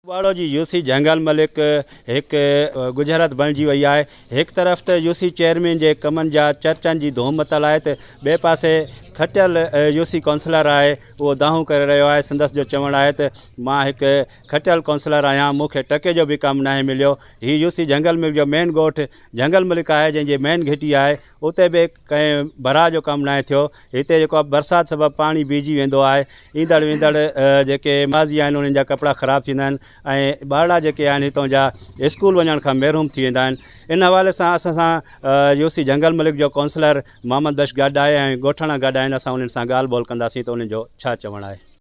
ٻاڙو جي يوسي جهنگل ملڪ هڪ ڳجهرت بڻجي وئي آهي. هڪ طرف ته يوسي چيئرمين جي ڪمن جا چرچن جي ڌوم متل آهي ته ٻئي پاسي کٽيل يوسي ڪائونسلر آهي اهو دانهون ڪري رهيو آهي سندس جو چوڻ آهي ته مان هڪ کٽيل ڪائونسلر آهيان مون کي ٽڪي جو به ڪم ناهي مليو هي يوسي جهنگل ملڪ جو مين ڳوٺ جهنگل ملڪ آهي جنهن جي مين گهٽي آهي اتي به ڪنهن براه جو ڪم ناهي ٿيو. هتي جيڪو آهي برسات سبب پاڻي بيهجي ويندو آهي. ايندڙ ويندڙ جيڪي ماضي آهن انهن جا ڪپڙا خراب ٿيندا آهن ۽ ٻارڙا جيڪي آهن هتئون جا اسڪول وڃڻ کان محروم ٿي ويندا آهن. ان حوالي سان اسان سان يو سي جهنگل ملڪ جو ڪونسلر محمد بخش گاڊا آهي ۽ ڳوٺاڻا گاڊا آهن اسان انهن سان ڳالهه ٻولهه ڪنداسين ته انهن جو ڇا چوڻ آهي.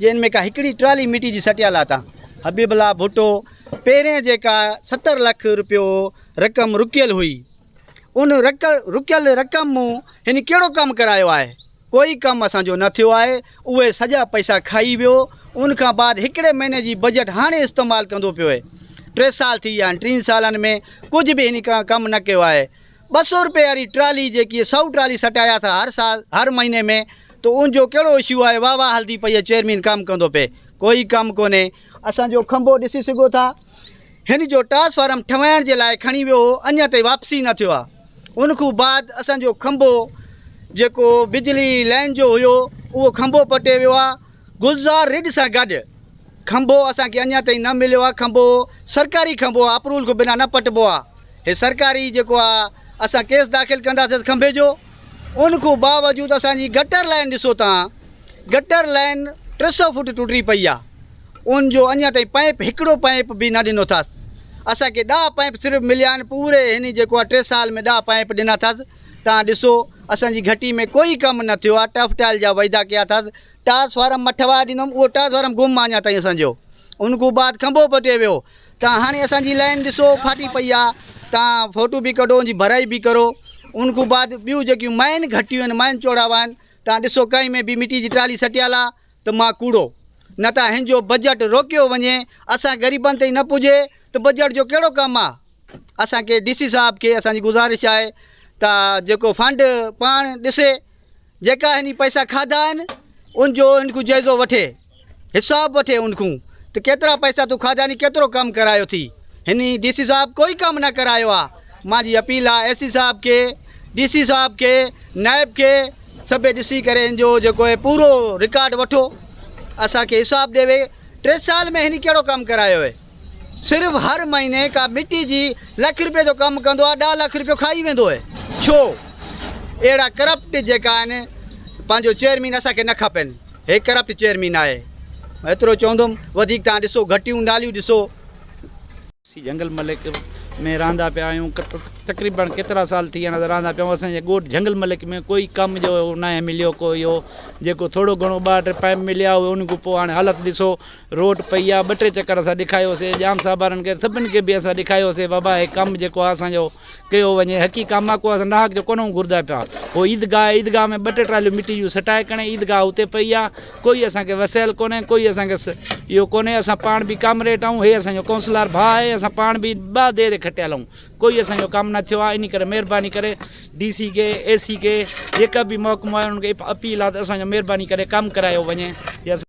جنھن ۾ ڪا ھڪڙي ٽرالي مٽي جي سٽيا لاتا. حبيب الله ڀٽو پهرين جيڪا ستر لک روپيو رقم رڪيل ھئي ان رڪيل رقم مون ھن ڪهڙو ڪم ڪرايو آھي ڪوئي ڪم اسان جو نه ٿيو آھي اھي سڄا پئسا کائي ويو ان کان بعد ھڪڙي مھيني جي بجيٽ ھاڻي استعمال ڪندو پيو ٽي سال ٿي ويا آھن ٽين سالن ۾ ڪجهه به ھن ڪم نه ڪيو آھي ٻه سؤ روپئي واري ٽرالي جيڪي سؤ ٽرالي سٽايا ٿا هر سال هر مهيني ۾ تو ان جو ڪهڙو اشو آهي واهه واهه هلدي پئي آهي چيئرمين ڪم ڪندو پئي ڪوئي ڪم ڪونهي اسان جو کنڀو ڏسي سگهو ٿا هن جو ٽرانسفارم ٺهوائڻ جي لاء کڻي ويو هو اڃا تائين واپسي نه ٿيو آهي ان کان بعد اسان جو کنڀو جيڪو بجلي لائن جو هيو اهو کنڀو پٽي ويو آهي گلزار ريڊ سان گڏ کنڀو اسان کي اڃان تائين نه مليو آ کنڀو سرڪاري کنڀو آ اپروول کان بنا نه پٽبو آ هي سرڪاري جيڪو آ اسان ڪيس داخل ڪنداسين کنڀي جو ان کان باوجود اسان جي گٽر لائن ڏسو تان گٽر لائن ٽي سو فوٽ ٽٽي پئي آ ان جو اڃان تائين پائپ هڪڙو پائپ به نه ڏنو اٿس اسان کي ڏاهه پائپ صرف مليا آهن پوري هن جيڪو آ ٽي سال ۾ ڏاهه پائپ ڏنا اٿس تان ڏسو اسان جي گهٽي ۾ ڪوئي ڪم نه ٿيو آ ٽرف ٽائل جا وعدا ڪيا ٿا ٽاس فارم مٺ وائي ڏنم اهو ٽاس فارم گم آ اڃا تائين اسان جو ان کان بعد کنڀو پٽي ويو تان هاڻي اسان جي لائن ڏسو ڦاٽي پئي آ تان فوٽو به ڪڍو ان جي ڀرائي به ڪرو ان کان بعد ٻيون جيڪيون مائن گهٽيون آهن مائن چوڙاوا آهن تان ڏسو ڪنهن ۾ به مٽي جي ٽرالي سٽيل آ ته مان ڪوڙو نه ته هن جو بجيٽ روڪيو وڃي اسان غريبن تائين نه پڄي ته بجيٽ جو ڪهڙو ڪم آ اسان کي ڊي سي صاحب کي اسان جي گذارش آهي ته جيڪو فنڊ پاڻ ڏسي جيڪا هني پئسا کاڌا آهن ان جو ان کان جائزو وٺي حساب وٺي ان کان ته ڪيترا پئسا تو کاڌا ني ڪيترو ڪم ڪرايو ٿي هني ڊي سي صاحب ڪوئي ڪم نه ڪرايو آهي مانجي جي اپيل آهي ايس سي صاحب کي ڊي سي صاحب کي نائب کي سڀ ڏسي ڪري ان جو جيڪو هي پورو رڪارڊ وٺو اسان کي حساب ڏيوي ٽي سال ۾ هني ڪهڙو ڪم ڪرايو هي صرف هر مهيني ڪا مٽي جي لک رپئي جو ڪم ڪندو آهي ڏهه لک رپيو کائي ويندو اهي ڇو اهڙا ڪرپٽ جيڪا آهن پنهنجو چيئرمين اسان کي نه کپين هي ڪرپٽ چيئرمين آهي ايترو چوندم وڌيڪ تان ڏسو گهٽيون ناليون ڏسو. اسين جهنگل ملڪ ۾ رهندا پيا آهيون تقريبن ڪيترا سال ٿي ويا رهندا پيا آهيون اسان جي ڳوٺ جهنگل ملڪ ۾ ڪوئي ڪم جو ناهي مليو ڪو اهو جيڪو ٿورو گهڻو ٻه ٽي پائپ مليا هئا ان کان پوء هاڻي حالت ڏسو روٽ پئي آ ٻه ٽي چڪر اسان ڏيکايو سي ڄام صاحبارن کي سڀن کي به اسان ڏيکايو سي بابا هي ڪم جيڪو آ اسان جو ڪيو وڃي حقي ڪم آ ڪو اسان ناحق جو ڪونه گهردا پيا هو عيدگاهه آ عيدگاهه ۾ ٻه ٽي ٽراليون مٽي جون سٽائي ڪڻي عيدگاهه اتي پئي آ ڪوئي اسان کي وسيل ڪونه ڪوئي اسان کي اهو ڪونه اسان پاڻ به ڪامريٽ آهون هي اسان جو ڪونسلر ڀاء آهي اسان پاڻ به ٻه دير کٽيل آهون ڪوئي اسان جو ڪم نه ٿيو آ اني ڪري مهرباني ڪري ڊي سي کي اي سي کي جيڪا به محڪمو آهي انهن کي اپيل آ ته اسان جو مهرباني ڪري ڪم ڪرايو وڃي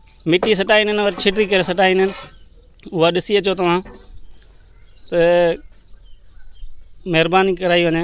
مٽي سٽائين ھن وري ڇٽي ڪري سٽائين ھن اھا ڏسي اچو توھان ته مھرباني ڪرائي وڃي